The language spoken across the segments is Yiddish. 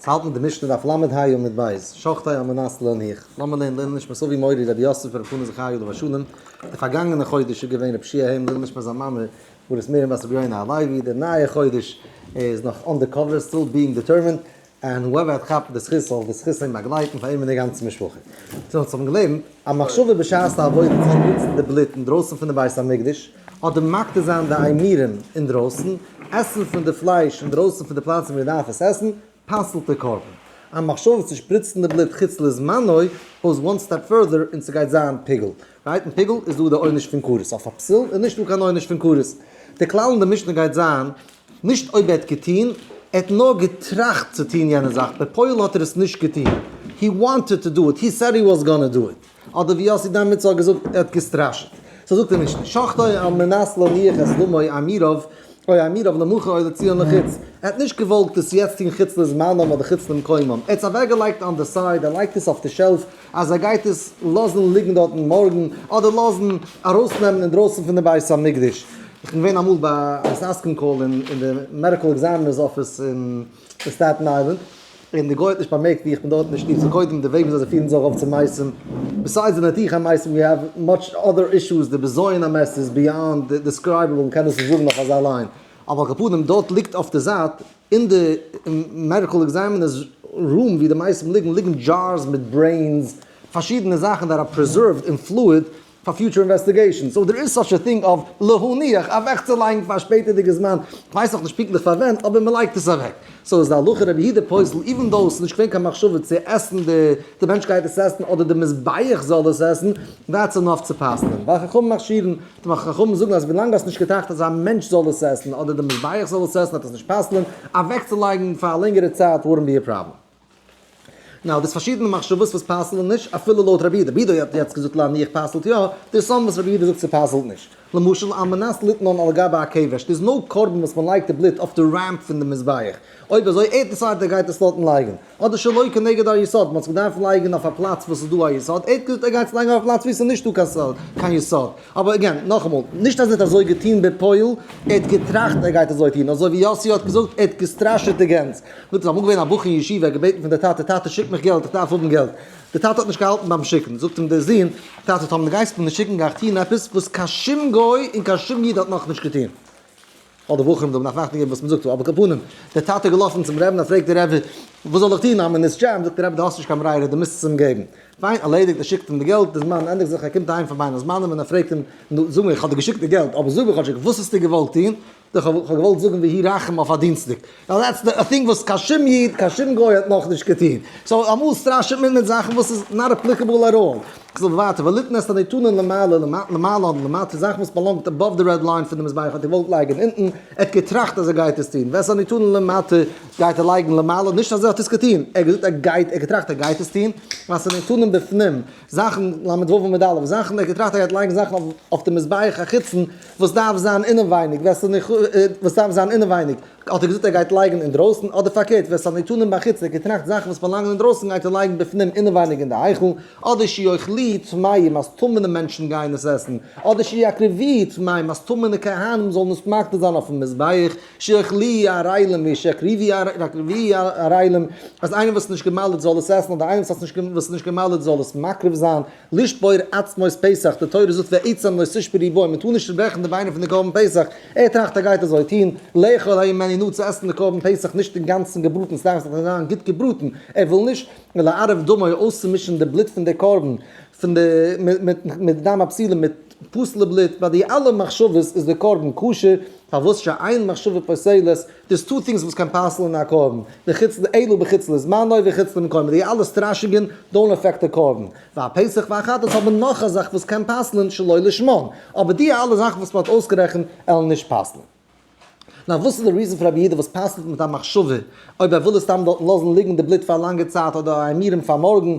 אונז האלטן די משנה דף ל' ה עמוד ב', שוחטי המנס להניח, לאמיר לערנען לעילוי נשמת אבי מורי רבי יוסף ר' פנחס זכריה עליו השלום, די פארגאנגענע חודש איז געווען רב שי' העם, לעילוי נשמת זיין מאמע הגברת מרים בת רבי יונה הלוי, די נייע חודש איז נאך אן די קאווער, סטיל ביאינג דיטערמינד, ענד הועווער האט כאפט די זכות זאל די זכות אים באגלייטן פאר אים און די גאנצע משפחה. צו אונז האבן געלערנט א מחשבה בשעת די עבודה צו שפריצן די בלוט אינדרויסן פון די בית המקדש, אדער מקטיר זיין די איימירען אינדרויסן, עסן פון די פלייש אינדרויסן פון די פלאץ ווי מען דארף עס עסן, פסל'ט די קרבן. א מחשבה צו שפריצן די בלוט חוץ לזמנו גאוס וואן סטעפ פורדער און ס'גייט זיין פיגול. ברייטן פיגול איז דא די עונש פון כרת, אויף א פסול איז נישטא קיין עונש פון כרת. די כלל אין די משנה גייט זיין, נישט אויב ער האט געטון, ער האט נאר געטראכט צו טון יענע זאך, בפועל האט ער עס נישט געטון, הי וואנטעד טו דו איט, הי סעד הי וואס גאנע דו איט. אדער ווי יאסי דאמערצער האט געזאגט ער האט געסטראשעט. סא זאגט ער נישט נישט. שחטא על מנת להניח את דמו האמירוב או האמירוב למחר אוי לציון לחוץ. ער האט נישט געוואלגט עס יעצט טון חוץ לזמנם אדער חוץ למקומם. ער האט עס אוועקגעלייגט אן די סייד, ער לייגט עס אויף די שעלף אז ער גייט עס לאזן ליגן דארטן מארגן אדער לאזן ארויסנעמען אינדרויסן פון די בית המקדש. כ'בין געווען אמאל ביי א סאסקען קאל אין די מעדיקעל עקזעמינערס אפיס אין סטעטן איילענד. און די גוי האט נישט באמערקט ווי איך בין דארט אין די שטוב, סאו קודם די וועג וויאזוי זיי פירן זיך אויף צו מעשים, ביסיידס די נתיחה מעשים ווי האב מאטש אדער אישוס, די בזיון המעשה איז ביאנד דיסקרייבעבל מ'קען דאס נישט זאגן אויף אזא ליין, אבער על כל פנים דארט ליגט אויף די זייט אין די מעדיקעל עקזעמינערס רום ווי די מעשים ליגן, ליגן דזשארס מיט ברעינס, פארשידענע זאכן דער אר פרעזערווד אין פלואיד, פאר פיוטשער אינוועסטיגעישאנס, סאו דער איז סאטש א טינג אוו להניח אוועקצולייגן פאר א שפעטערדיגע זמן, כ'ווייס נאך נישט פונקטליך פאר ווען, אבער מ'לייגט עס אוועק. סאו איז די הלכה רבי יהודה פוסל איווען דאו ס'איז נישט געווען קיין מחשבה צו עסן די די מענטש גייט עס עסן אדער די מזבח זאל עס עסן, דעטס אינאף צו פסל'ען, ווייל חכמים מכשירן, חכמים זאגן אז ווילאנג האסט נישט געטראכט אז א מענטש זאל עס עסן אדער די מזבח זאל עס עסן וועט עס נישט פסל'ען, אוועקצולייגן פאר א לענגערע צייט ווארענט בי א פראבלעם. נאו, דאס פארשידענע מחשבות וואס פסל'ן נישט, אפילו לויט רבי איד, רבי איד האט יעצט געזאגט להניח פסל'ט יא, דער סאמע וואס רבי איד זאגט ס'פסל'ט נישט. למשל על מנת ליתנון על גבי הקבר, ס'איז נאר קרבן וואס מ'לייגט די בלוט אויף די רעמפ פון די מזבח, אויב אזוי ער דעסיידט ער גייט עס דארטן לייגן, אדער שלא כנגד היסוד, מ'האט עס געדארפט לייגן אויף א פלאץ וואס איז דא א יסוד, ער האט געזאגט ער גייט עס לייגן אויף א פלאץ ווי ס'איז נישט דא קיין יסוד, אבער עגעין, נאכאמאל, נישט אז ער האט אזוי געטון בפועל, ער האט געטראכט ער גייט אזוי טון, אזוי ווי יאסי האט געזאגט ער האט געסטראשעט די גענז. דארט איז אמאל געווען א בחור אין ישיבה, ער האט געבעטן פון די טאטע, טאטע שיק מיך געלט, איך דארף האבן געלט. די טאטע האט נישט געהאלטן ביים שיקן, זאגט אים דער זון, טאטע טאמער די גייסט מיך נישט שיקן גיי איך טון עפעס וואס קיין שום גוי און קיין שום איד האט נאך נישט געטון. האט די בחור אים דערנאך נאכט געגעבן וואס מען זאגט, על כל פנים, דער טאטע איז געלאפן צום רבי'ן, ער פרעגט דער רבי, וואס זאל איך טון, איימער נישט שם, זאגט דער רבי, דו האסט נישט קיין ברירה, דו מוזט עס אים געבן. פיין, ערלעדיגט, ער שיקט אים די געלט, די זמן ענדיגט זיך, ער קומט אהיים פון בין הזמנים און ער פרעגט אים, נו, זאג מיר, איך האב דיר געשיקט די געלט, אבער זאג מיר כאטשיג, וואס האסטו געוואלט טון? איך האב געוואלט זאגן ויהי רחם אויף א דינסטאג, דעטס א טינג וואס קיין שום איד, קיין שום גוי האט נאכנישט געטון, סאו אמאל סטראשעט מען מיט זאכן וואס איז נאט אפליקעבל אט אלל. כ'זאג ווייטער, וליתן את הנתנון למעלה, למעלה אדער למטה, זאכן וואס באלאנגט אבאוו די רעד ליין פון די מזבח האט ער געוואלט לייגן אונטן, ער האט געטראכט אז ער גייט עס טון, ואת הנתנון למטה גייט ער לייגן למעלה, נישט אז ער האט עס געטון, ער האט געזאגט ער גייט, ער האט געטראכט ער גייט עס טון, ואת הנתנון בפנים. זאכן, ל' ו' עמוד א', זאכן, איך האב געטראכט ער גייט לייגן זאכן אויף די מזבח החיצון וואס דארף זיין אינעווייניג, ווער ס'איז ניחא, וואס דארף זיין אינעווייניג, האט ער געזאגט ער גייט לייגן אינדרויסן, אדער פארקערט, ווער ס'האט ניתנים בחוץ, ער האט געטראכט זאכן וואס באלאנגען אינדרויסן גייט ער לייגן בפנים אינעווייניג אין די היכל, אדער שיאכלו טמאים אז טמא'נע מענטשן גייען עס עסן, אדער שיקרבו טמאים אז טמא'נע כהנים זאלן עס מקריב זיין אויפן מזבח, שיך לי אריילעם ווי שיך ריווי אריילעם, אז איינער וואס איז נישט געמל'עט זאל עס עסן, אדער איינער וואס האט וואס איז נישט געמל'עט זאל עס מקריב זיין, לשבור עצמות פסח, די תורה זאגט ועצם לא תשבר איברים, מען טאר נישט צוברעכן די ביינער פון די קרבן פסח, ער טראכט ער גייט אזוי טון, לאכול ה' ממני נאר צו עסן די קרבן פסח נישט אינגאנצן געבראטן, ס'דארף זיך זיין גוט געבראטן, ער וויל נישט, ולערב דמו אויסצומישן די בלוט פון די קרבן, פון די מיט דם הפסילה מיט. פסל'ע בלוט, ביי די אלע מחשבות איז דער קרבן כשר, פארוואס שאין מחשבה פסלת, דאס טוט טינגס וואס קען פסל'ן א קרבן, בחוץ ל אלא בחוץ לזמנו וחוץ למקומו, די אלע סטראשונגען דאונט אפעקט די קרבן, ביי פסח והחטאת האט מען נאך א זאך וואס קען פסל'ן שלא לשמם, אבער די אלע זאכן וואס מען האט אויסגערעכנט עלן נישט פסל'ן. נאר וואס איז די ריזען פאר א ביהודה וואס פסל'ט מיט א מחשבה אויב ער וויל עס סתם דארטן לאזן ליגן די בלוט פאר א לאנגע צייט אדער ארעמירן פאר מארגן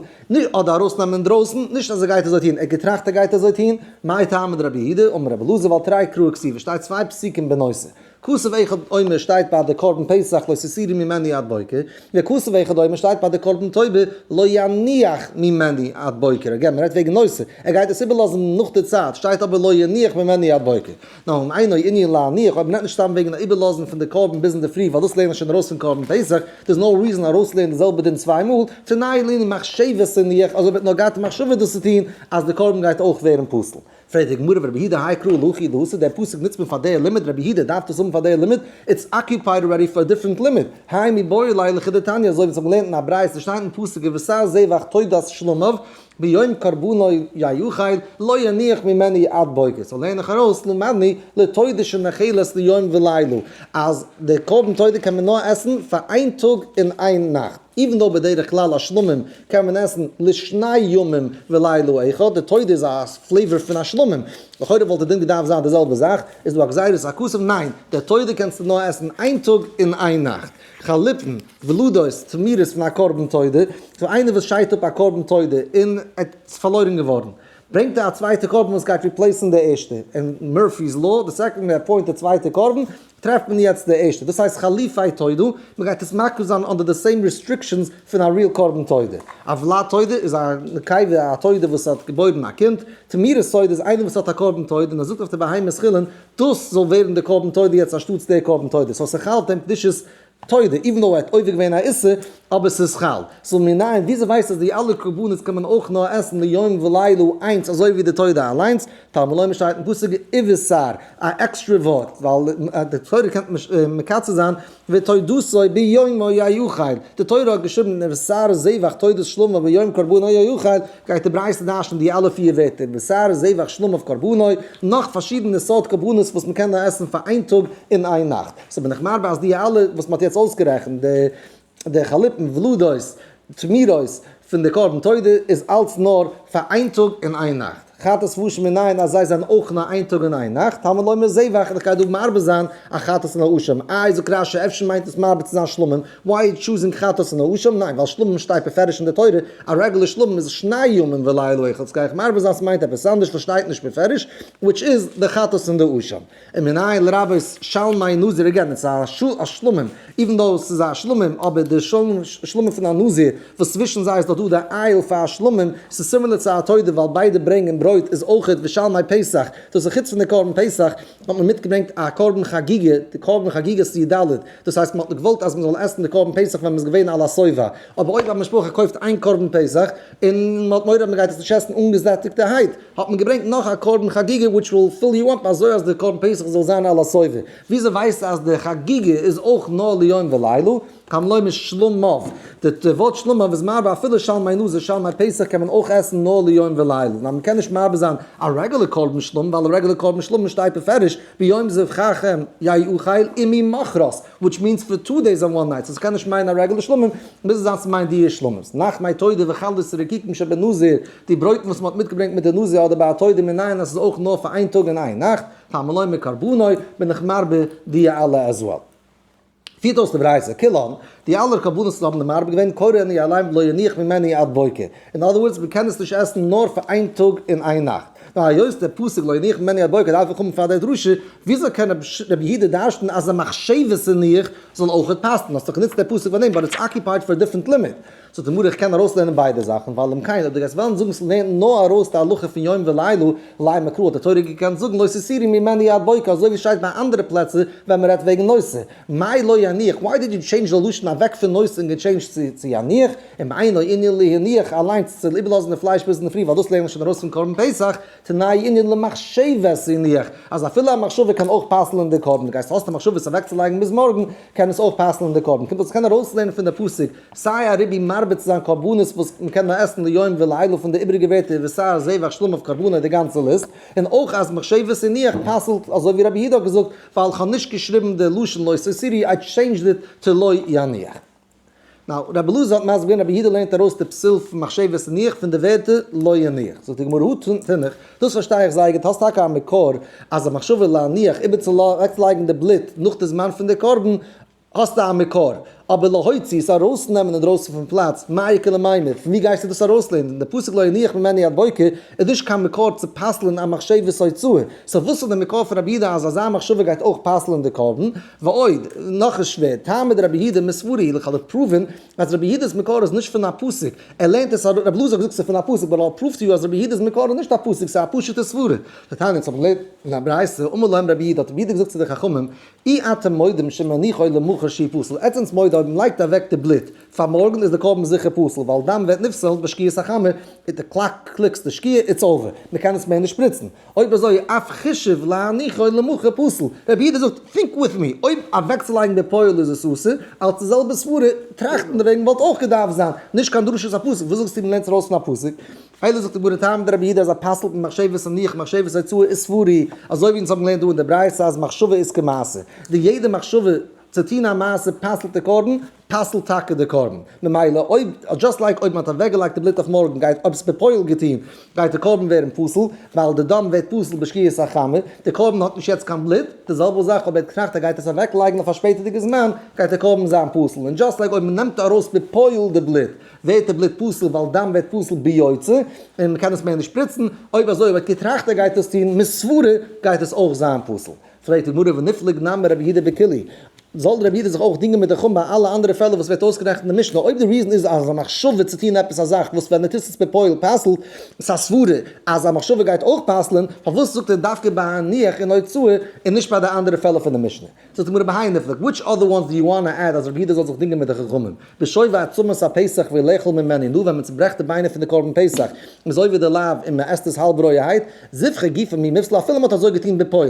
אדער ארויסנעמען אינדרויסן, נישט אז ער גייט אזוי טון, ער האט געטראכט ער גייט אזוי טון, מאי טעמא דרבי יהודה אמר רבי אלעזר ווייל תרי קרא כסיל עס שטייט צוויי פסוקים בנושא, כסוף אחד עומר שטייט ביי די קרבן פסח לא תסירי ממני עד בוקר, וכסוף אחד עומר שטייט ביי די קרבן תובע לא יניח ממני עד בוקר, אגען מען רעדט וועגן נושא, ער גייט עס איבערלאזן נאך די צייט, שטייט אבער לא יניח ממני עד בוקר. נאר אן עינוי ענין להניח, אויב מ'נעמט נישט סתם וועגן א איבערלאזן פון די קרבן ביז אינדערפרי ווייל דאס לערנט מען שוין ארויס פון קרבן פסח, איז דאס נאו ריזען ארויסלערנען די זעלבע דין צוויי מאל, פון ניי לערנען מחשבת הניח, אזוי וועט נאר גייט די מחשבה דאס צו טון, אז די קרבן גייט אויך ווערן פסול. פרעגט די גמרא ורבי יהודה האי קראו להכי דהסה, דער פסוק נוצט מען פאר דער לימוד, רבי יהודה דארף דאס האבן פאר דער לימוד, איטס אקיופייד אלרעדי פאר א דיפרענט לימוד, היימי באי אליי לכדתניא, אזוי ווי אונז האבן געלערנט אין א ברייתא, שטייט אין פסוק ובשר זבח תודת שלמיו, ביום קרבנו יהיו חיל, לא יניח ממני עד בוקר, סאו לערן איך ארויס למדני לתודה שמאכילת ליום ולילה, אז די קרבן תודה קען מען נאר עסן פאר איין טאג און איין נאכט, איווען דאו בדרך כלל א שלמים קען מען עסן לשני ימים ולילה אחד, די תודה איז א פלעיוואר פון א שלמים, לכאורה וואלט די דין געדארפט זיין די זעלבע זאך, איז דא א גזירת הכסף? ניין, די תודה קענסטו נאר עסן איין טאג און איין נאכט. חליפין, ולדות, צו מירעס פון א קרבן תודה, צו איינער וואס שיידט אפ א קרבן תודה און עטס פארלוירן געווארן, ברענגט ער א צווייטע קרבן וואס גייט ריפלעיסן די ערשטע, אין מורפי'ס לאו, די סעקאנד מען עפוינט די צווייטע קרבן, טרעפט מען יעצט די ערשטע, דאס הייסט חליפי תודה, מען גייט עס מקריב זיין אנדער די סעים ריסטריקשענס פון א ריעל קרבן תודה. א ולד תודה איז א נקבה, א תודה וואס האט געבוירן א קינד, צו מירעס תודה איז איינער וואס האט א קרבן תודה און ער זאגט אויף די בהמה ס'חילין דאס זאל ווערן די קרבן תודה יעצט אנשטאטס דער קרבן תודה, סאו ס'חל דעם קדושת תודה, איווען דאו ער האט עובר געווען א איסור, אבער ס'איז חל. סאו מנין, וויאזוי ווייסטו אז די אלע קרבנות קען מען אויך נאר עסן ליום ולילה איינס אזוי ווי די תודה אליינס, תלמי לומר שטייט אין פסוק איווער סאר, א עקסטרע ווארט, ווייל די תורה קען מען נישט מקצר זיין, ותודתו ביומו יאכל, די תורה האט געשריבן אין בשר זבח תודת שלמה ביום קרבנו יאכל, גייט די ברייתא דרש'נען די אלע פיר ווערטער בשר זבח שלמה קרבנו, נאך פארשידענע סארט קרבנות וואס מען קען עסן פאר איין טאג און איין נאכט, סאו בין איך מרבה אז די אלע וואס מען האט יעצט אויסגערעכנט, די די חלפים, ולדות, תמירות, פון די קרבן תודה איז אלץ נאר פאר איין טאג און איין נאכט. חטאת ושם אין איין אז זיי זענען אויך נאר איין טאג און איין נאכט, הלמאי לומר זיי וואכן איך גיי דא מאבד זיין א חטאת און א אשם, איי זאגט רשי אפשר מיינט עס מאבד צו זיין שלמים, וויי איז טשוזינג חטאת און א אשם, ניין ווייל שלמים שטייט מפרש אין די תורה, א רעגולער שלמים איז שני ימים ולילה אחד, ס'גיי איך מאבד זיין ס'מיינט עפעס אנדערש וואס שטייט נישט מפרש, וויטש איז די חטאת און די אשם. און מנהל רבי'ס שלמי נזיר אגעין איטס א שלמים איווען דאו ס'איז א שלמים אבער די שלמים פון א נזיר וואס צווישן זיי איז דאך דא די אייל פאר שלמים ס'איז סימילער צו א תודה ווייל ביידע ברענגען ברויט איז אויכעט ווי שלמי פסח דאס איז חוץ פון די קרבן פסח האט מען מיטגעברענגט א קרבן חגיגה די קרבן חגיגה סי' ד' דאס הייסט מ'האט געוואלט אז מ'זאל עסן די קרבן פסח ווען מ'איז געווען על השובע אבער אויב א משפחה קויפט איין קרבן פסח און מען האט מורא אז מען גייט עס נישט עסן אנגעזעטיגטערהייט, האט מען געברענגט נאך א קרבן חגיגה וויטש וויל פיל יו אפ אזוי אז די קרבן פסח זאל זיין על השובע, וויאזוי ווייסטו אז די חגיגה איז אויך נאר ליום ולילה, כמלא משלמיו, די ווארט שלמיו איז מערבה אפילו שלמי לוזי שלמי פסח קען מען אויך עסן נאר ליום ולילה, ווייל מען קען נישט מערבה זיין א רעגולער קרבן שלמים ווייל א רעגולער קרבן שלמים שטייט מפרש ביום זה חכם יאכל וממחרת וויטש מיענס פאר טו דעיס און וואן נייטס סאיז קעניש מיינען א רעגולער שלמים מוז עס זיין סמיינט די איש שלמות נאך מיין תודה וחלות רקיקים שבנזיר די ברויטן וואס מהאט מיטגעברענגט מיט די נזיר אדער ביי א תודה מנין אז סאיז אויך נאר פאר איין טאג און איין נאכט פאר מלא מקרבנו בין איך מרבה די אלע עז וועל. פירט אויס די ברייתא כלהלן, די אלע קרבנות וואס האבן די מרבה געווען קורא אני אליין ולא יניח ממני עד בוקר, אין אדער ווארדס, מען קען עס נישט עסן נאר פאר איין טאג און איין נאכט. נאר היות דער פסוק לא יניח מני הבוקר דארף איך האבן פאר דער דרשה, וויאזוי קען ר' יהודה דרש'ן אז א מחשבת זניח זאל אויך האט פאסטן? האסט דאך גענוצט דער פסוק פאר דעם באט איטס אקיופייד פאר א דיפרענט לימוד. זאגט די גמרא איך קען ארויסלערנען ביידע זאכן, ווייל אם כן אויב דו גייסט וועלן זאגן ס'לערנט נאר ארויס די הלכה פון יום ולילה, לאי מקרא האט די תורה געקענט זאגן לא תסירי ממני עד בוקר אזוי ווי ס'שטייט ביי אנדערע פלעצער ווען מ'רעדט וועגן נושא. מאי לא יניח, וויי דיד יו טשעינדזש די לשון אוועק פון נושא און געטשעינדזשט צו צו יניח, און בעיני ענין להניח אליינס צו איבערלאזן די פלייש ביז אינדערפרי ווייל דאס לערנט מען שוין ארויס פון קרבן פסח, תנאי ענין למחשבת הניח, אז אפילו א מחשבה קען אויך פסל'ען די קרבן, גייסט האסט די מחשבה עס אוועקצולייגן ביז מארגן קען עס אויך פסל'ען די קרבן, קומט אז כ'קען ארויסלערנען פון די פסוק סיי א רבי מרבה צו זיין קרבנות וואס מ'קען נאר עסן ליום ולילה פון די איבריגע ווערטער ווי סיי זבח שלום אויף קרבנות די גאנצע ליסט, און אויך אז מחשבת הניח פסל'ט אזוי ווי רבי יהודה האט געזאגט, ווייל כ'האב נישט געשריבן די לשון לא סוסירי איי טשעינדזשד איט טו לא יניח. נאו, רבי אלעזר האט מסביר געווען רבי יהודה לערנט ארויס די פסול פון מחשבת ניח פון די ווערטער לא יניח. זאגט די גמרא הא תנח, דאס פארשטיי איך זייער גוט, האסט טאקע א מקור אז א מחשבה להניח איבערצולייגן די בלוט נאך די זמן פון די קרבן, האסטו א מקור, אבער להוציא, עס ארויסנעמען אינדרויסן פון פלאץ, מאי קא למאי-מר, פון וואו גייסטו דאס ארויסלערנען? דער פסוק לא יניח ממני עד בוקר איז נישט קיין מקור צו פסל'ן א מחשבת הוצאה, סאו וואס איז דער מקור פון רבי יהודה אז אזא מחשבה גייט אויך פסל'ן די קרבן? ועוד, נאך איז שווער, תעמוד דרבי יהודה מספרי הילוך האט דאך פראווען אז רבי יהודה'ס מקור איז נישט פון א פסוק, ער לערנט עס ארויס, רבי אלעזר האט געזאגט ס'איז פון א פסוק, באט האט פראווד טו יו אז רבי יהודה'ס מקור איז נישט א פסוק, ס'איז א פשוט'ע סברה. די תניא אונז האבן געלערנט אין א ברייתא, אמר להם רבי יהודה, האט רבי יהודה געזאגט צו די חכמים, אי אתם מודים שמניחוי למחר שי' פסול, עטס זענטס מודה אויב מ'לייגט אוועק די בלוט פאר מארגן איז די קרבן זיכער פסול ווייל דם ווערט נפסל בשקיעת החמה, איז די קלאק קליקס די שקיעה איטס אווער, מ'קען עס מער נישט שפריצן, אויב אזוי אויף חישוב להניחוי למחר פסול, רבי איד זאגט טינק וויט מי, אויב אוועקצולייגן די פויל איז עס אסור, אלס די זעלבע סברה טראכטן דערוועגן וואלט אויך געדארפט זיין, נישט קיין דרשות הפסוק, וואס זאגסטו מ'לערנט עס ארויס פון א פסוק? איידער זאגט ער גאר ניט האבן די רבי אידא אזא פסל פון מחשבת און ניח מחשבת אויף צואה איז ספורי, אזוי ווי אונז האבן געלערנט דא אין די ברייתא אז מחשבה איז כמעשה, די יעדע מחשבה צו טון א מעשה פסל'ט די קרבן, פסל'ט טאקע די קרבן, ממילא אויב, דזשאסט לייק אויב מען האט אוועק געלייגט די בלוט אויף מארגן גייט, אויב עס האט מען בפועל געטון, גייט די קרבן ווערן פסול, ווייל די דם ווערט פסול בשקיעת החמה, די קרבן האט נישט יעצט קיין בלוט, די זעלבע זאך אויב ער האט געטראכט ער גייט עס אוועק לייגן אויף א שפעטערדיגע זמן גייט די קרבן זיין פסול, און דזשאסט לייק אויב מען נעמט ארויס בפועל די בלוט, ווערט די בלוט פסול ווייל דם ווערט פסול ביוצא און מען קען עס מער נישט שפריצן, אויב אזוי וועט כתרחתא גייט דאס טון מיט סברה גייט עס אויך זיין פסול. פרעגט די גמרא ונפלג נא מרבי יהודה בקלי, זאל רבי יהודה זיך אויך דינגען מיט די חומ ביי אלע אנדערע פעלער וואס ווערט אויסגערעכנט אין די משנה, אויב די ריזן איז אז א מחשבה צו טון עפעס א זאך וואס ווען מען טוט עס בפועל פסל'ט עס א סברה אז א מחשבה גייט אויך פסל'ען, פארוואס זאגט ער דווקא ביי א ניח און הוצאה און נישט ביי די אנדערע פעלער פון די משנה? זאגט די גמרא בהאי נפלג, וויטש אדער וואנס דו יו וואנא עד אז ר' יהודה זאל זיך דינגען מיט די חכמים? בשוי ועצמות הפסח ווי לאכול ממני, נו ווען מען צוברעכט די ביינער פון די קרבן פסח איז אויב ווי די לאו און מען עסט עס האלב רויערהייט, זבחי גופא מי מפסלו אפילו מען האט אזוי געטון בפועל,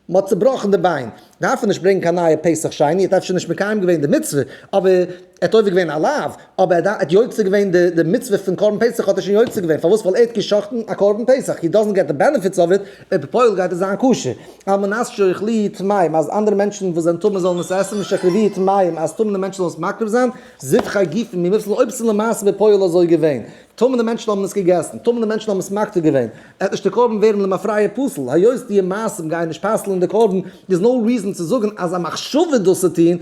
מען האט צובראכן די ביין, דארף ער נישט ברענגן קיין נייע פסח שני, ער האט אפשר נישט מקיים געווען די מצוה, אבער. ער האט עובר געווען א לאו, אבער ער האט יוצא געווען די מצוה פון קרבן פסח האט ער שוין יוצא געווען, פארוואס? ווייל ער האט גע'שחט'ן א קרבן פסח, הי דאזענט געט די בענעפיטס אוו איט, און בפועל גייט עס זיין כשר, על מנת שיאכלו טמאים, אז אנדערע מענטשן וואס זענען טמא זאלן עס עסן, משאקרבי טמאים, אז טמא'נע מענטשן זאלן עס מקריב זיין, זיבחי גופא, מיר וויסן אויב עס איז למעשה בפועל אזוי געווען. טויזנטער מענטשן האבן עס געגעסן, טויזנטער מענטשן האבן עס מקטיר געווען, עט נישט דער קרבן ווערן למפרע פסול, היות דיע מעשים גייען נישט פסל'ען די קרבן, איז נאו ריזען צו זאגן אז א מחשבה דאס צו טוהן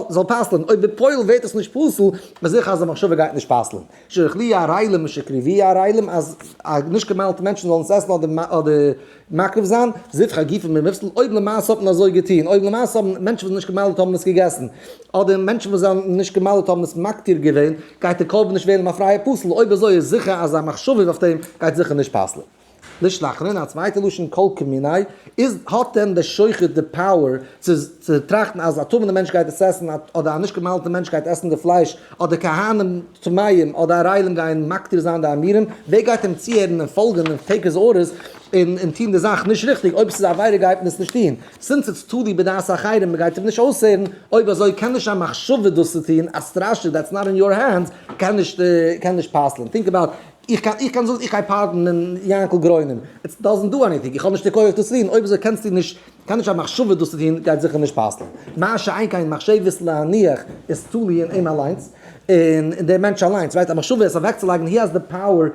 זאל פסל'ען, אויב בפועל ווערט עס נישט פסול, איז זיכער אז די מחשבה גייט נישט פסל'ען, שרחליע ערלים משקריביע ערלים אז א נישט געמיילטע מענטשן זאלן עס עסן אדער מקריב זיין, זבחי גופא ממפסל, אויב למעשה האט מען אזוי געטון, אויב למעשה האבן מענטשן וואס זענען נישט געמל'ד האבן עס געגעסן, אדער מענטשן וואס זענען נישט געמל'ד האבן עס מקטיר געווען, גייט די קרבן נישט ווערן א פרייע פסול, אויב אזוי איז זיכער אז א מחשבה איז אויף דעם גייט זיכער נישט פסל'ן. לשלחן, אין א צווייטע לשון כל קמיני, איז, האט דען דער שוחט די פאוער צו. צו טראכטן אז א טמא'נע מענטש גייט עס עסן, אדער א נישט גע'מל'טע מענטש גייט עסן די פלייש, אדער כהנים טמאים אדער ערלים גייען מקטיר זיין די עמירם, ווער גייט אים צוהערן און פאלגען און טעיק היז ארדערס און און טוהן די זאך נישט ריכטיג, אויב ס'איז א עבירה גייט מען עס נישט טוהן, סינס איטס תלוי בדעת אחרים, מ'גייט אים נישט אויסהערן, אויב אזוי קען נישט א מחשבה דאס צו טוהן, א סטראשע דעטס נאט אין יור הענדס קען נישט קען נישט פסל'ן, טינק אבאוט, איך קען איך קען זאגן איך גיי פארדענען יענקל גרוינעם, איטס דאזענט דא עניטינג, איך האב נישט די כח דאס צו טוהן, אויב אזוי קענסטו נישט קיין נישט א מחשבה דאס צו טון גייט זיכער נישט פסל'ן, מה שאין כן מחשבת להניח איז תלוי אין אים אליינס, און דער מענטש אליינס, ווייסט א מחשבה עס אוועקצולייגן הי האזס די פאוער,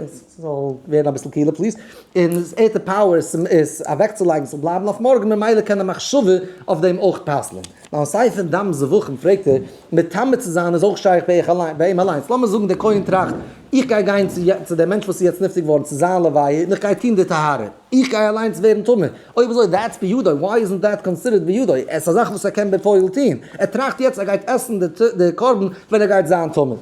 ס'זאל ווערן אביסל קילער פליז, און ער האט די פאוער עס אוועקצולייגן ס'זאל בלייבן אויף מארגן ממילא קען א מחשבה אויף דעם אויך פסל'ן, נאר סיי פון דם זבחים פרעגט ער, מתאמת צו זיין איז אויך שייך ביי אים אליינס, לאמיר זאגן דער כהן טראכט איך גיי גיין צו דעם מענטש וואס איז יעצט נפטר געווארן צו זיין לוויה און איך גיי טון די טהרה. איך גיי אליינס ווערן טמא? אויב אזוי דעטס בידו, וויי איז נישט דעט קאנסידערט בידו? עס איז א זאך וואס ער קען בפועל טוהן, ער טראכט יעצט ער גייט עסן די קרבן ווען ער גייט זיין טמא.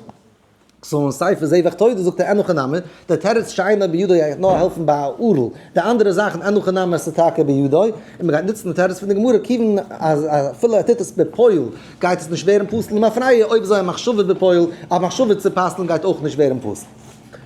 סאו אין ספר זבח תודה זאגט ער אין הכי נמי, דער תירוץ שאינו בידו גייט נאר העלפן ביי א ערל, די אנדערע זאכן אין הכי נמי עס איז טאקע בידו, און מען גייט נוצן די תירוץ פון די גמרא כיוון אז אפילו ער טוט עס בפועל גייט עס נישט ווערן פסול למפרע, אויב איז א מחשבה בפועל, א מחשבה צו פסל'ן גייט אויך נישט ווערן פסול.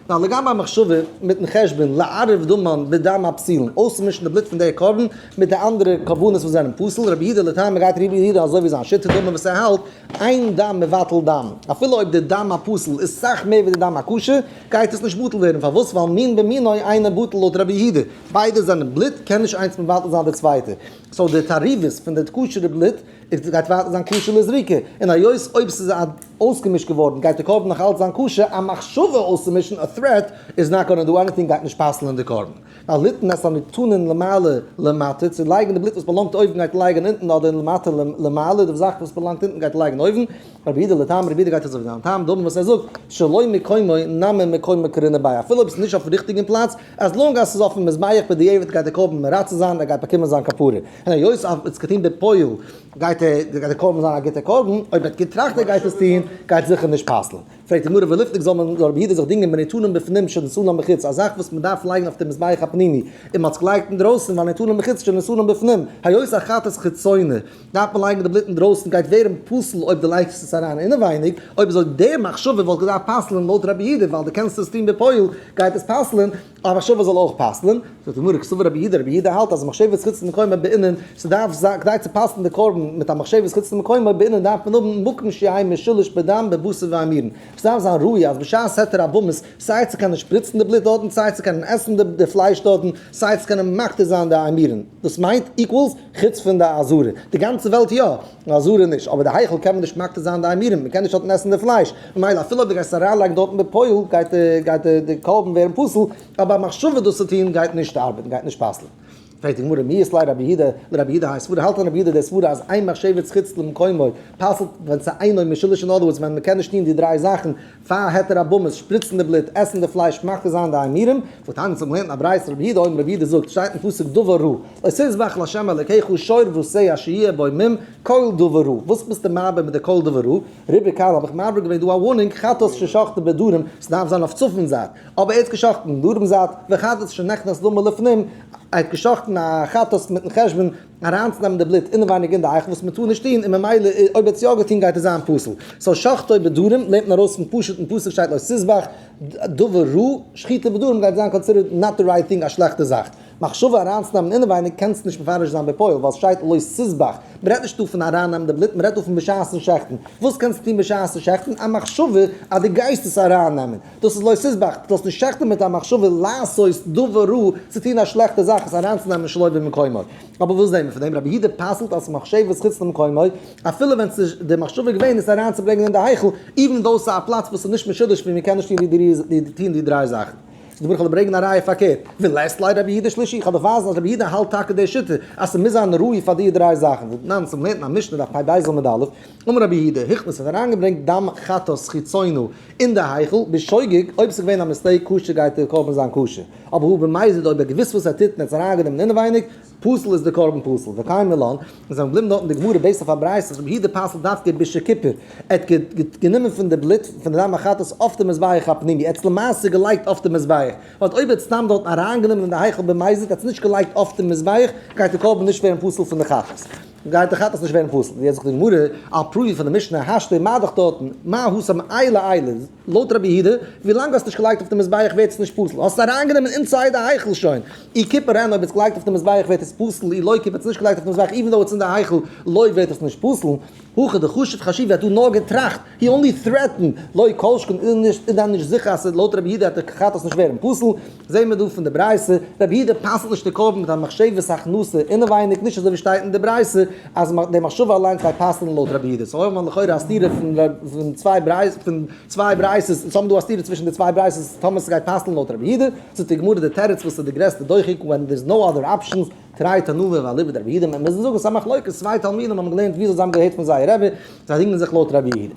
נאר לגבי המחשבה מיטן חשבון לערב דמן בדם הפסילן, אויסצומישן די בלוט פון דער קרבן מיט די אנדערע קרבנות וואס זענען פסול, רבי יהודה לטעמי גייט רבי יהודה אזוי ווי זיין שיטה דומה וואס ער האלט, אין דם מבטל דם, אפילו אויב דער דם הפסול איז סאך מער ווי דער דם הכשר, גייט עס נישט בטל ווערן, פארוואס? ווייל מין במינוי אינו בטל לויט רבי יהודה, ביידע זענען בלוט, קען נישט איינס מבטל זיין די צווייטע, סאו די תערובות פון די כשר'ע בלוט גייט ווייטער זיין כשר לזריקה, און היות אויב ס'איז א. אויסגעמישט געווארן, גייט די קרבן נאך אלץ זיין כשר? א מחשבה אויסצומישן, א threat, איז נאט גאנא דא עניטינג, גייט נישט פסל'ען די קרבן. א ליתן את הניתנין למעלה למטה, צו לייגן די בלוט וואס באלאנגט אויבן גייט לייגן אונטן, אדער למטה למעלה, די זאך וואס באלאנגט אונטן גייט לייגן אויבן, רבי אידא לטעם, רבי אידא גייט אזוי ווי זיין טעם, דאבען וואס ער זאגט, שלא מקומו נמי מקומו קרינא ביי, אפילו אויב עס איז נישט אויפן ריכטיגן פלאץ, as long as עס איז אויפן מזבח בדיעבד גייט די קרבן מרצה זיין, ער גייט באקומען זיין כפרה. היות עס איז געטון בפועל גייט ער, גייט די קרבן זיין א גוטע קרבן? אויב ער האט געטראכט ער גייט עס טון, גייט עס זיכער נישט פסל'ן. פרעגט די גמרא ולפנים זאל מען, זאל רבי יהודה זיך דינגען בנתנם בפנים שנתנם בחוץ, א זאך וואס מען דארף לייגן אויף די מזבח הפנימי, און מען האט עס געלייגט אינדרויסן, ווייל נתנם בחוץ שנתנם בפנים, היות א חטאת חיצוני, דארף מען לייגן די בלוט אינדרויסן, גייט ווערן פסול אויב די לייגסט עס אריין אינעווייניג, אויב איז אויך די מחשבה וואלט געדארפט פסל'ן לויט רבי יהודה, ווייל די קענסט עס טון בפועל, גייט עס פסל'ן. א מחשבה זאל אויך פסל'ן, זאגט די גמרא, כסבר רבי יהודה, רבי יהודה האלט אז מחשבת חוץ למקומו בענין, ס'דארף זיין, כדי צו פסל'ן די קרבן מיט א מחשבת חוץ למקומו בענין דארף מען האבן מקום שיהי' משולש בדם בבשר ואימירן, ס'דארף זיין ראי' אז בשעת התר הבמות, סיי צו קענען שפריצן די בלוט דארטן, סיי צו קענען עסן די פלייש דארטן, סיי צו קענען מקטיר זיין די אימירן, דאס מיינט, איקוואלס, חוץ פון די אזהרה, די גאנצע וועלט יא. נאר זרע נישט, אבער די היכל קען מען נישט מקטיר זיין די עמירם, מען קען נישט דארטן עסן די פלייש, ממילא אפילו אויב די גייסט אריינלייגן דארטן בפועל גייט גייט די קרבן ווערן פסול, אבער א מחשבה דאס צו טון גייט נישט ארבעטן, גייט נישט פסל'ן. פרעגט די גמרא, מי אסלאי רבי יהודה לרבי יהודה היי סברא, האלט רבי יהודה די סברא אז איין מחשבת חוץ למקומו פסל'ט ווען ס'אינו משולש, אין אדער ווארדס ווען מען קען נישט טון די דריי זאכן, פאר העט ער א באמעס, שפריצן די בלוט, עסן די פלייש, מחטיא זיין די עמירם. ותניא צו האבן געלערנט א ברייתא רבי יהודה אויבן, רבי יהודה זאגט, שטייט אין פסוק דבר רע, עשה זבח לה' אלקיך שור ועשה אשר יהיה בו מים, קול דבר רע, וואס ביסטו מעבר מיט די קול דבר רע? רבי קל האב איך מעביר געווען דא א ווארנינג, חטאת ששחטו בדרום, ס'דארף זיין אויף צפון זייט, אבער ער האט געשחט'ן דרום זייט, וחטאת שנכנס לו מלפנים, ער האט געשחט'ן א חטאת מיט'ן חשבון, אריינצונעמען די בלוט אינעווייניג אין די אייכל וואס מען טאר נישט טון און ממילא אויב ער האט עס יא געטון גייט ער זיין פסול סאו שחטו בדרים לערנט מען ארויס פון פשוט'ן פסוק שטייט לא תזבח דבר רע שחיטה בדרים גייט זיין קאנסידערט נאט די רייט טינג א שלעכטע זאך מחשבה אריינצונעמען אינעווייניג קענסט נישט מפרש זיין בפועל ווייל סשטייט לא תזבח מען רעדט נישט דא פון ארייננעמען די בלוט מען רעדט דא פון בשעת'ן שחט'ן וואס קענסטו טון בשעת'ן שחט'ן א מחשבה אז דו גייסט עס ארייננעמען. דאס איז לא תזבח, דו זאלסט נישט שעכטען מיט א מחשבה לעשות דבר רע, צו טון א שלעכטע זאך, עס אריינצונעמען שלא במקומו. אבער וואס זעהן מיר פון דעם? רבי יהודה פסל'ט אז מחשבות חוץ למקומו, אפילו ווען עס איז די מחשבה געווען עס אריינצוברענגען אין די היכל, איווען דאו עס איז א פלאץ וואס איז נישט משודש ווי מען קען נישט טון די דריי זאכן. דא ברויך איך ברענגען א ראיה פארקערט, ווי לעסט לייט רבי יהודה שלישי, איך האב דאך ווייזן אז רבי יהודה האלט טאקע די שיטה אז עס מוז זיין ראוי פאר די דריי זאכן, דנן צום לערנען א משנה דף פב ז עמוד א', אמר רבי יהודה, היכ וואס האט אריינגעברענגט דם חטאת חיצונו אין די היכל, בשוגג, אויב עס איז געווען א מיסטעיק כשר גייט די קרבן זיין כשר, אבער הוא במזיד אויב ער האט געוויסט וואס ער טוט און ער האט עס אריינגענומען אינעווייניג, פסול איז די קרבן פסול, וקיים מילא, און זיי זענען געבליבן דארט אין די גמרא בעיסד אויף א ברייתא אז רבי יהודה פסל'ט דווקא בישע כיפור, ער האט גענומען פון די בלוט פון די דם החטאת אויף די מזבח הפנימי, ער האט עס למעשה געלייגט אויף די מזבח, באט אויב ער האט עס סתם דארטן אריינגענומען אין די היכל במזיד, ער האט עס נישט געלייגט אויף די מזבח, גייט די קרבן נישט ווערן פסול פון די חטאת. גייט דאך עפעס נישט ווערן פסול, ווי עס זאגט די גמרא, על פי פון די משנה השתא מה דחתתן, מה הוא סם אי לאי ל, לויט רבי יהודה, ווי לאנג האסט נישט געלייגט אויף די מזבח ווערט עס נישט פסול, האסט עס אריינגענומען אינסייד די היכל שוין, אי כיפר הן, אויב עס געלייגט אויף די מזבח ווערט עס פסול, אי לאי כיפר האסט נישט געלייגט אויף די מזבח איווען דאו עס אין די היכל לויט ווערט עס נישט פסול, הכא דחשוב חשיב ווי האט דא נאר געטראכט. הי אנלי טרעטען לוי כל שכן איז נישט איז דען נישט זיכער אז ס'איז לויט רבי יהודה וועט דער כחטאת נישט ווערן פסול, זעהן מיר דא פון די ברייתא, רבי יהודה פסל'ט נישט די קרבן מיט א מחשבת הכנסה אינעווייניג, נישט אזוי ווי שטייט אין די ברייתא אז די מחשבה אליינס גייט פסל'ן לויט רבי יהודה, סאו האבן מיר לכאורה א סתירה פון צוויי ברייתות, סאו האבן מיר דא א סתירה צווישן די צוויי ברייתות טאמער ס'גייט פסל'ן לויט רבי יהודה, זאגט די גמרא די תירוץ וואס איז די גרעסטע דוחק ווען דער איז נאו אדער אפשענס, טרייט ענווה ואליבא דרבי יהודה מען מוזן זאגן ס'איז א מחלוקת צוויי תלמידים האבן געלערנט וויאזוי זיי האבן געהערט פון זייער רבי זיי דינגען זיך לויט רבי יהודה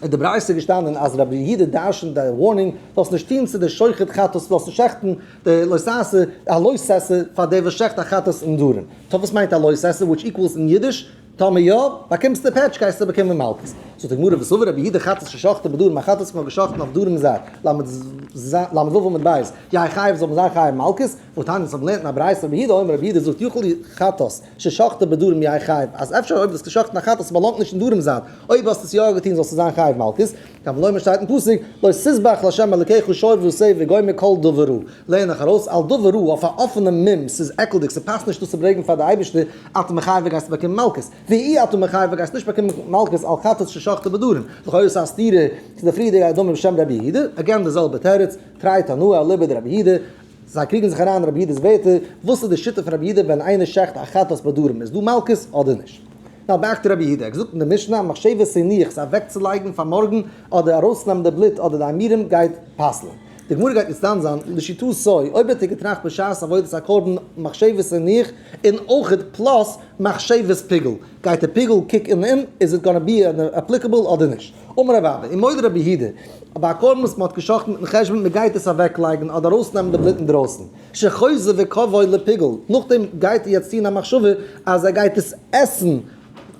אין די ברייתא איז געשטאנען אז רבי יהודה דרשנט די ווארנינג זאלסט נישט טון צו די שוחט חטאת זאלסט נישט שעכטן די לא תעשה א לא תעשה פאר דער וואס שעכט א חטאת אין דארען טא וואס מיינט א לא תעשה וויטש איקוועלס אין אידיש טאמער יא באקומסטו פעטש גייסטו באקומען מלקות זאגט די גמרא וסבר רבי יהודה חטאת ששחטו בדארעם א חטאת וואס מען האט געשאכטן אויף דארעם ז ל, ל' ו עמוד ב', יהא חייב זאל מען זיין חייב מלקות. וואס טענה'ט אז מען לערנט אין א ברייתא רבי יהודה אומר רבי יהודה זאגט יכול היא חטאת ששחטה בדורם יהי' חייב אז אפשר אויב דו האסט גע'שחט'ן א חטאת וואס באלאנגט נישט אין דורם זיין אויב האסט עס יא געטון זאלסטו זיין חייב מלקות קל ונומר שטייט אין פסוק לא תזבח לה' אלקיך שור ועשה וגומר כל דבר רע לערן איך ארויס על דבר רע אויף א אפענע מ מ ס'איז עקלדיג ס'פאסט נישט דאס צו ברעגן פאר די אייבערשטע אתה מחייב גייסטו באקומען מלקות והיא אתה מחייב גייסט נישט באקומען מלקות על חטאת ששחטה בדורם לכאורה איז עס א סתירה צו די פריערדיגע אדמור בשם רבי יהודה עגעין די זעלבע תירוץ טריי תנא אליבא דרבי יהודה. זיי קריגן זיך אריין אין רבי יודע'ס ווערטער, וואס איז די שיטה פון רבי יודא ווען איינער שעכט א חטאת בדרום, איז דא מלקות אדער נישט? נא באכט רבי יודא, ער האט געזאגט אין די משנה, מחשבת סעניך, זיך אוועקצולייגן פאר מארגן, אדער ארויסנעמען די בלוט אדער די איימירעם גייט פסל'ן. די גמרא גייט מוסיף זיין, לשיטתו סא אויב האט ער געטראכט בשעת עבודת הקרבן מחשבת סעניך און אויך פלאס מחשבת פיגול, גייט ער פיגול קוק אין אים, איז איט גאנא בי עפליקעבל אדער נישט? אמר רב אבא, און מודה רבי יהודה, אז ביי א קרבן וואס מען האט גע'שחט'ן מיט'ן חשבון מען גייט עס אוועקלייגן אדער ארויסנעמען די בלוט אינדרויסן, שחוזר וקבוי לפיגול, נאכדעם גייט איר יעצט טון א מחשבה אז ער גייט עס עסן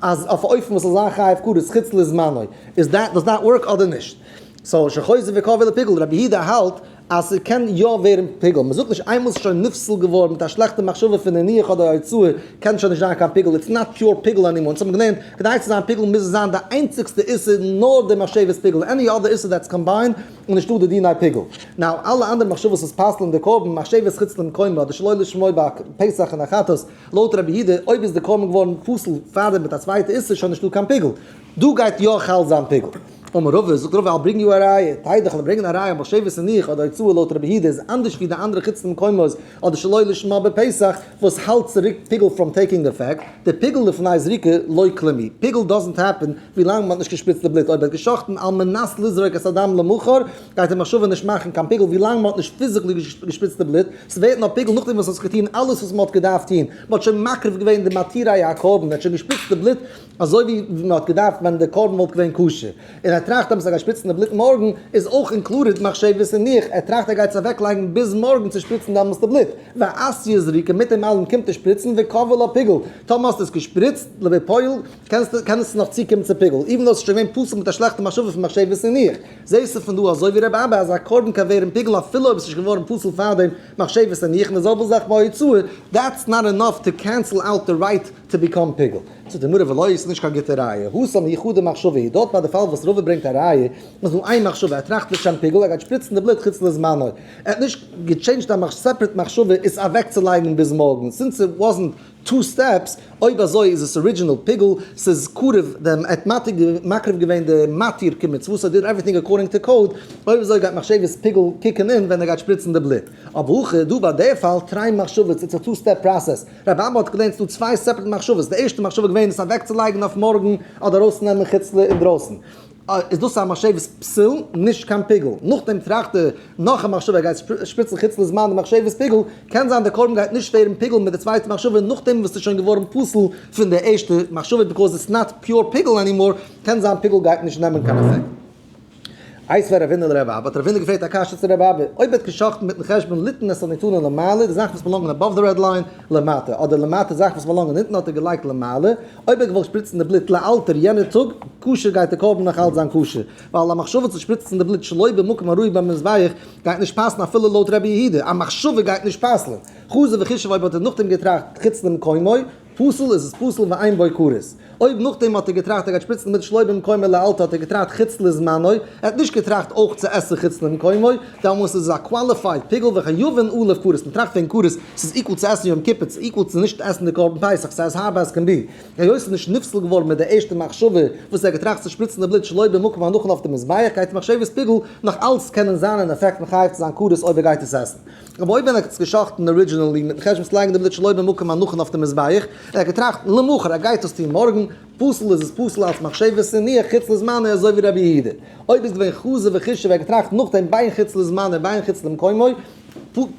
אז אויף א אופן וואס ס'זאל זיין חייב כרת חוץ לזמנו, איז דעט דאס דאט ווארק אדער נישט? סאו שחוזר וקבוי לפיגול, רבי יהודה האלט אז ס'קען יא ווערן פיגול, מ'זאגט נישט איינמאל ס'איז שוין נפסל געווארן מיט א שלעכטע מחשבה פון נניח אדער יצוה קען שוין נישט זיין קיין פיגול איטס נאט פיור פיגול ענימאר, אונז האבן געלערנט כדי צו זיין פיגול מוז עס זיין די איינציגסטע איסור נאר די מחשבת פיגול עני אדער איסור דעטס קאמביינד איז נישטא די דיני פיגול נאו אלע אנדערע מחשבות וואס פסל'ן די קרבן מחשבת חוץ למקומו אדער שלא לשמו ביי פסח און החטאת לויט ר' יהודה אויב איז די קרבן געווארן פסול פארדעם מיט א צווייטע איסור שוין נישטא קיין פיגול. דא גייט יא חל זיין פיגור. אמר רבא, זאגט רבא, איי ברענג דו א ראיה, טייער דיך, לאמיר ברענגען א ראיה, מחשבת הניח אדער הוצאה לויט רבי היהודה איז אנדערש ווי די אנדערע חוץ למקומות אדער שלא לשמה בפסח וואס האלט צוריק פיגול פראם טעיקינג עפעקט, די פיגול לפני זריקה לא כלומי, פיגול דאזענט העפען ווילאנג מען האט נישט געשפריצט די בלוט, אויב ער האט געשאכטן על מנת לזרוק את הדם למחר גייט די מחשבה נישט מאכן קיין פיגול ווילאנג מען האט נישט פיזיקלי געשפריצט די בלוט, ס'ווערט נאר פיגול נאכדעם וואס האט זיך געטון אלעס וואס מען האט געדארפט טון, מען האט שוין מקריב געווען די מתירי הקרבן, מען האט שוין געשפריצט די בלוט. אזוי ווי מען האט געדארפט ווען די קרבן וואלט געווען כשר, און ער טראכט עפעס ער גייט שפיצן די בלוט מארגן, איז אויך אינקלודעד מחשבות און ניח ער טראכט ער גייט עס אוועק לייגן ביז מארגן צו שפיצן דעמאלס די בלוט, ועשיה זריקה, מיט דעם אלעם קומט ער שפריצן וקבל א פיגול, טאמער האסטו עס געשפריצט בפועל קענסטו קען עס נאך צוקומען צו פיגול, איווען דאס איז שוין געווען פסול מיט א שלעכטע מחשבה פון מחשבות און ניח, זעהסטו פון דא אזוי ווי רב אבא אז א קרבן קען ווערן פיגול אפילו אויב עס איז נישט געווארן פסול פארדעם מחשבות און ניח, און די זעלבע זאך ביי הוצאה, דעטס נאט ענאף טו קענסל אוט די רייט טו ביקאם פיגול. צו די מראה ולא איז נישט קיין גוטע ראיה. הוסא מהיכא דמחשבה היא, דארט ביי די פאל וואס רבא ברענגט א ראיה, איז נאר איין מחשבה, ער טראכט לשם פיגול, ער גייט שפריצן די בלוט חוץ לזמנו, ער האט נישט געטשעינדזשד א סעפרעט מחשבה עס אוועקצולייגן ביז מארגן, סינס איט וואזנט טו סטעפס, אויב אזוי איז עס ארידזשינעל פיגול, ס'איז קרוב דעם, ער האט מעתיק געווען, מקריב געווען די מתיר כמצוות, ער טוט עווריטינג אקארדינג טו קאוד, אויב אזוי גייט מחשבת פיגול קיקן אין ווען ער גייט שפריצן די בלוט. אבער הכא דא ביי די פאל, טריי מחשבה, איטס א טו סטעפ פראסעס. רבי אבא האט געלערנט ס'דא צוויי סעפערעט מחשבות, די ערשטע מחשבה געווען עס אוועקצולייגן אויף מארגן אדער ארויסצונעמען חוץ ל אינדרויסן איז דאס א משבת פסול נישט קיין פיגול, נאכדעם טראכט ער נאך א מחשבה ער גייט שפריצן חוץ ל זמן די מחשבת פיגול, קען זיין די קרבן גייט נישט ווערן פיגול מיט די צווייטע מחשבה נאכדעם וואס ס'איז שוין געווארן פסול פון די ערשטע מחשבה ביקאוז איטס נאט פיור פיגול ענימאר קען זיין פיגול גייט נישט נעמען קיין אפעקט. איי ס'ווער ערווענען לרב אבא האט רב וינדער געפרעגט א קשיא צו רב אבא אויב ווערט גע'שחט'ן מיטן חשבון ליתן את הניתנה למעלה די זאכן וואס באלאנגען אבאוו די רעד ליין למטה אדער למטה זאכן וואס באלאנגען אונטן האט ער געלייגט למעלה אויב ער געוואלט שפריצן די בלוט לאלתר יענער טאג כשר גייט די קרבן נאך אלץ זיין כשר ווייל א מחשבה צו שפריצן די בלוט שלא במקום הראוי ביים מזבח גייט נישט פאסן אפילו לויט רבי יהודה א מחשבה גייט נישט פסל'ן חזו וחישב אויב האט ער נאכדעם געטראכט חוץ למקומו פסול איז עס פסול ואין בו כרת. אויב נאכדעם האט ער געטראכט ער גייט שפריצן מיט שלא במקומו לאלתר האט ער געטראכט חוץ לזמנו, ער האט נישט געטראכט אויך צו עסן חוץ למקומו, דעמאלס איז עס א קוואליפייד פיגול וחיובן עליו כרת, מען טראכט וועגן כרת, ס'איז איקוואל צו עסן יום כיפור, ס'איז איקוואל צו נישט עסן די קרבן פסח, ס'איז עז הארד עז קען בי. היות ס'איז נישט נפסל געווארן מיט די ערשטע מחשבה וואס ער האט געטראכט צו שפריצן די בלוט שלא במקומו און נאכן אויף די מזבח גייט מחשבת פיגול נאך אלץ קענען זיין אין אפעקט מחייב צו זיין כרת אויב ער גייט עס עסן. רבי אויבען האט עס גע'שחט'ן ארידזשינעלי מיטן חשבון צו לייגן די בלוט שלא במקום הנכון אויף די מזבח, ער האט געטראכט למחר ער גייט עס טון מארגן, פסול איז עס פסול אלץ מחשבת הניח חוץ לזמנו אזוי ווי רבי יהודה. אויב איז געווען חזו וחישוב ער האט געטראכט נאכדעם בין חוץ לזמנו ובין חוץ למקומו,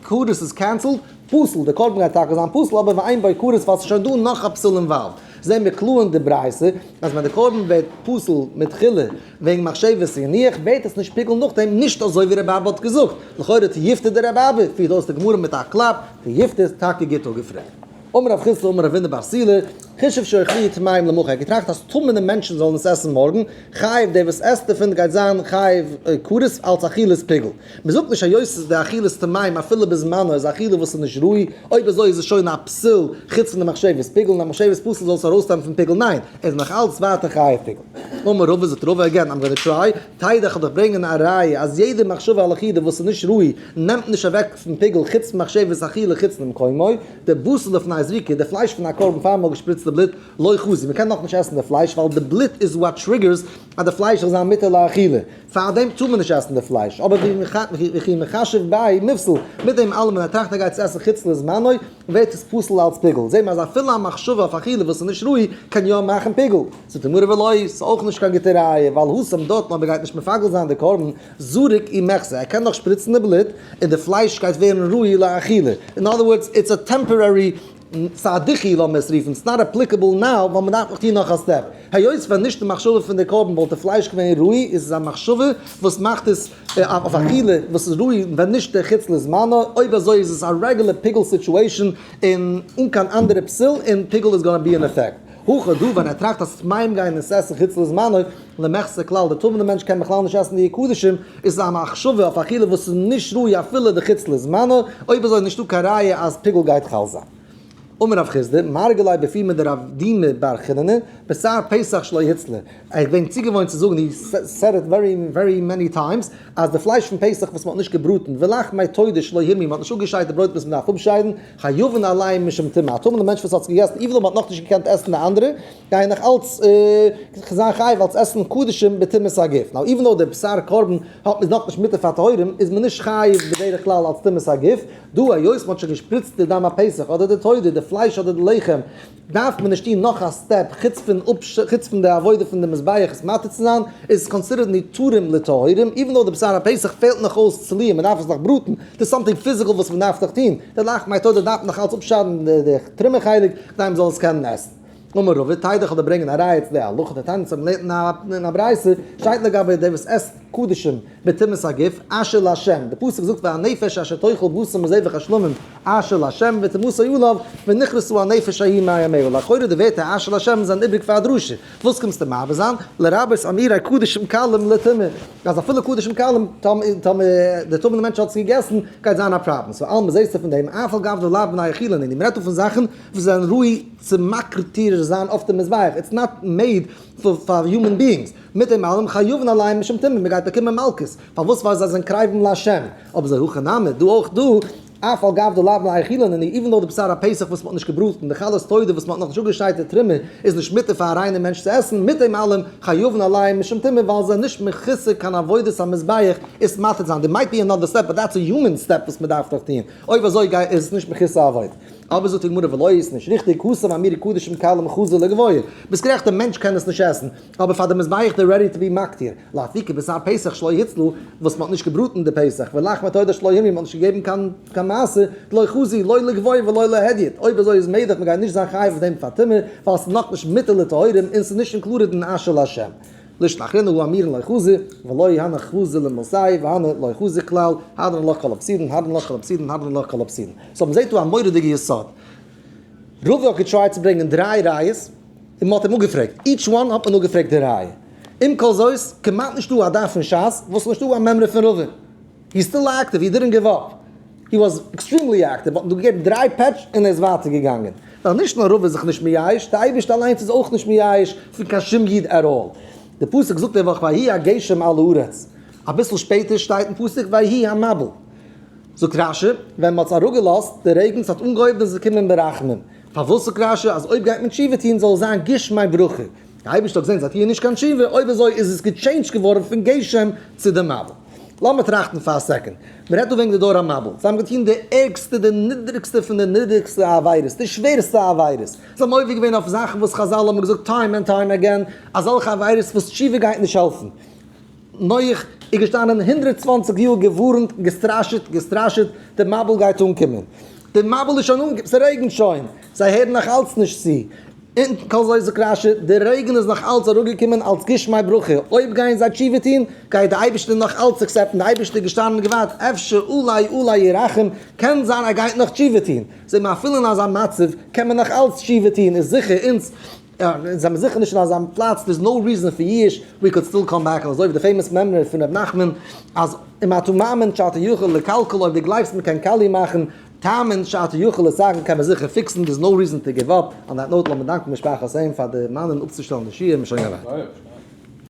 כרת איז קענסעלד, פסול, די קרבן גייט טאקע זיין פסול אבער ואין בו כרת ווייל עס איז שוין דא נאך א פסול אינוואלווד. זעהן מיר קלאר אין די ברייתא אז ווען די קרבן ווערט פסול מתחילה וועגן מחשבת אין איך בעט עס נישט פיגלן נאכדעם נישט אזוי ווי רבי אבא האט געזאגט, לכאורה צו יפת איז דער רבי אבא פירט אויס די גמרא מיט א קלאפ צו יפת איז טאקע גוט אפגעפרעגט. אמר רב חיסדא אמר רבינו בר סילא כישוף שאוכלי טמאים למחר ער האט געטראכט אז טמא'נע מענטשן זאלן עס עסן מארגן חייב דער וואס עסט דערפון גייט זיין חייב כרת אלץ אכילת פיגל. מען זאגט נישט היות עס איז די אכילת טעמים אפילו בזמנו איז א אכילה וואס איז נישט ראוי, אויב אזוי איז עס שוין א פסול חוץ פון די מחשבת פיגל און א מחשבת פסול זאל עס ארויסטאן פון פיגל ניין ער איז נאך אלץ ווייטער חייב פיגל. אמר רבא זאגט רבא עגעין איים גאנע טריי, טייער איך וועל דיך ברענגען א ראיה אז יעדע מחשבה על אכילה וואס איז נישט ראוי נעמט נישט אוועק פון פיגל חוץ פון מחשבת אכילה חוץ למקומו, די בשר לפני הזריקה די פלייש פון א קרבן פאר מען האט געשפריצט די בלוט לא חזי מען קען נאכנישט עסן די פלייש ווייל די בלוט איז וואט טריגערס אז די פלייש זאל זיין מותר לאכילה. פאר דעם טאר מען נישט עסן די פלייש, אבער וכי מכשף באי נפסל, מיט דעם אלעמען ער טראכט ער גייט עס עסן חוץ לזמנו, ווערט עס פסול אלץ פיגול, זעהט מען אז אפילו א מחשבה אויף אכילה וואס איז נישט ראוי, קען יא מאכן פיגול. זאגט די גמרא ולא, ס'איז אויך נישט קיין גוטע ראיה, ווייל הושם דותן אויב ער גייט נישט מפגל זיין די קרבן, זרוק אי מחסה, ער קען נאך שפריצן די בלוט, און די פלייש גייט ווערן ראוי לאכילה, אין אדער ווארדס, איטס א טעמפארערי סאדיחי לאמיר עס רופן, ס'איז נאט עפליקעבל נאו, ווייל מ'דארף נאך טון נאך א סטעפ. היות ווען נישט די מחשבה פון די קרבן וואלט די פלייש געווען רוי, איז עס א מחשבה וואס מאכט עס אויף אכילה וואס איז רוי, ווען נישט די חוץ לזמנו, אויב אזוי איז עס א רעגולער פיגול סיטועשאן און אן קיין אנדערע פסיל, און פיגול איז גאנא בי אין עפעקט. הכא דא ווען ער טראכט אז ס'וועט מים גיין אין ס'עסן חוץ לזמנו, למחצה כלל די תמימ'ע מענטש קען בכלל נישט עסן די קדשים, איז עס א מחשבה אויף אכילה וואס איז נישט ראוי אפילו די חוץ לזמנו, אויב אזוי איז נישטא קיין ראיה אז פיגול גייט חל זיין. אמר רב חיסדא, מרגל לייב בפי מיט די רב די מ בר חנינא, בשר פסח שלא היצלה, איך בין צוגעוואוינט צו זאגן, יו סעד איט ווערי ווערי מעני טיימס, אז די פלייש פון פסח וואס מ'האט נישט געבראטן, ולחמי תודה שלא הימי, מ'האט נישט אפגעשיידט די ברויט וואס מ'דארף אפשיידן, חיובן אליין משום טומאה, א טמא'נע מענטש וואס האט געגעסן איבער און האט נאך נישט געקענט עסן די אנדערע, גייען נאך אלץ זיין חיוב אלץ עסן קדשים בטומאת הגוף, נאר איווען דאו די בשר קרבן האט איז נאך נישט מותר פאר טהורים, איז מען נישט חיוב בדרך כלל אלץ טומאת הגוף, דא היות מען האט שוין געשפריצט די דם הפסח אדער די תודה, די פלייש אדער די לחם, דארף מען נישט טון נאך א סטעפ חוץ פון חוץ פון די עבודה פון די מזבח עס מטהר צו זיין, איז עס קאנסידערט נתרים לטהורים, איווען דאו די בשר הפסח פעלט נאך אויס צליה מען דארף עס נאך בראטן, דאס סאמטינג פיזיקעל וואס מען דארף נאך טון, די לחם היתודה דארף נאך אלץ אפשיידן די טרומע חלק כדי מען זאל עס קענען עסן. אמר רב ותדע איך וועל דיר ברענגען א ראיה צו די הלכה די תענית וואס מען לערנט אין א ברייתא שטייט לגבי די וואס עסט קדשים, בתמימות הגוף, אשר לה', די פסוק זאגט והנפש אשר תאכל בשר מזבח השלמים, אשר לה', ותמסור אליו, ונכרסו הנפש ההיא מאה מאה, לכאורה די ווערטער אשר לה' זענען איבריג פאר א דרשה, וואס קומסטו מעביר זיין? לרבות אמירה קדשים קלים לטומאה, אז אפילו קדשים קלים, טמא, די טמא'נע מענטש האט עס געגעסן, גייט זיין א פראבלעם, סאו אלמען זעסטו פון דעם, אף על גב די לאו בני החילון, און מען רעדט דא פון זאכן וואס זענען ראוי צו מקריב טריר זיין אויף די מזבח, איטס נאט מעיד פאר יומען ביאינגס, מיט דעם אלעם חיובן אליין משום טעמים, מען גייט באקומען מלקות, פארוואס? ווייל זיי זענען קרבים להשם, אבער זיי הכה נמי, דא אויך דא, אף על גב דו לאו להאכילן עני, איווען דאו די בשר הפסח וואס מען האט נישט געבראטן, די חלת תודה וואס מען האט נאכנישט אפגעשיידט די טרימער, איז נישט מותר פאר א ריינער מענטש צו עסן, מיט דעם אלעם חיובן אליין משום טעמים, ווייל זיי זענען נישט מכסה קיין עבודת המזבח עס מטריד זיין, דער מייט בי אנאדער סטעפ באט דעטס א יומען סטעפ וואס מען דארף דאך טוהן, אויב אזוי איז עס נישט מכסה עבודה. אבער זאגט די גמרא ולא איז נישט ריכטיג כסא מאמרי קדוש אם קל אם חזו לגביה, ביסט גערעכט די מענטש קען עס נישט עסן, אבער פאר די מזבח די רעדי טו בי מקטיר, לאפי כבשר פסח שלא הוצלו, וואס מ'האט נישט געבראטן די פסח, ולחמא טהור שלא המי' מ'האט נישט געגעבן קיין קיין מעשר, דלא חזי לא לגביה ולא להדיוט, אויב אזוי איז מעגליך מ'גייט נישט זיין חייב אויף דעם פאר טומאה, ווייל ס'איז נאכנישט מיתה לטהורים און ס'איז נישט אינקלודעד אין אשר לה'. לשון אחרונה הוא אמירן לא חזי ולא יהנא חזי למסאי והנא לא חזי כלל, הדרן לך כל הפסידן, הדרן לך כל הפסידן, הדרן לך כל הפסידן. סאו מען זעט דא א מורא'דיגע יסוד. רובא האט געטרייט צו ברענגען דריי ראיות, און מען האט אים אפגעפרעגט. איטש וואן האט מען אפגעפרעגט די ראיה. עם כל זאת, כמעט נישטא א דף אין שס וואס איז נישטא א מימרא פון רובא. יו סטיל אקטיוו? יו דידענט גיוו אפ? יו וואזט עקסטרימלי אקטיוו, מ'האט דיר געגעבן דריי פעטש און ער איז ווייטער געגאנגען. ווייל נישט נאר רוב איז זיך נישט מייאש, די אייבערשטער אליינס איז אויך נישט מייאש פון קיין שום איד עט אלל. די פסוק זאגט די וואך ויהי הגשם על הארץ, אביסל שפעטער שטייט אין פסוק ויהי המבול. זאגט רשי, ווען מ'האט עס אראפגעלאזט די רעגן, ס'האט אנגעהויבן איז עס געקומען ברחמים. פארוואס זאגט רשי אז אויב גייט מען תשובה טון זאל עס זיין גשמי ברכה? די אייבערשטער האט געזען זיי טוען נישט קיין תשובה, אויב אזוי איז עס געטשעינדזשט געווארן פון גשם צו די מבול. לאמיר טראכטן פאר א סעקאנד. מען רעדט דא וועגן די דור המבול. זיי האבן געטון די ערגסטע, די נידריגסטע פון די נידריגסטע עבירות, די שווערסטע עבירות. זיי האבן עובר געווען אויף זאכן וואס חזל האבן געזאגט טיים ענד טיים עגעין, אזעלכע עבירות וואס תשובה גייט נישט העלפן. נח איז געשטאנען הונדרעט צוואַנציק יאר, געווארנט, געסטראשעט, געסטראשעט, די מבול גייט אנקומען. די מבול איז שוין אנגעקומען, ס'רעגנט שוין. זיי הערן נאכאלץ נישט צו. אונטן קול זויז וקראשע, די רעגן איז נאך אלץ אראפגעקומען אלץ גשמי ברכה, אויב גייען זיי תשובה טון, גייט די אייבערשטער נאך אלץ אקסעפטן, די אייבערשטער איז געשטאנען און געווארט, אפשר אולי אולי ירחם, קען זיין ער גייט נאך תשובה טון, זעה מען אפילו אין אזא מצב קען מען נאך אלץ תשובה טון, איז זיכער אונז זעמיר זיכער נישט אין אזא פלאץ, דער'ס נאו ריזען פאר יאוש, ווי קאן סטיל קאם בעק, אזוי ווי די פעימאס מימרא פון ר' נחמן אז אם אתה מאמין שאתה יכול לקלקל אויב די גלייבסט מען קען קאליע מאכן, טענה'ן שארט יוכל עס זאגן קען מען זיכער פיקסן דעיס נאו ריזען טו גיוו אפ אן דעט נאוט לאמיר דאנקן משפחת עיין פאר דערמאנען אפצושטעלן די שיעור מ'שוין געווארט.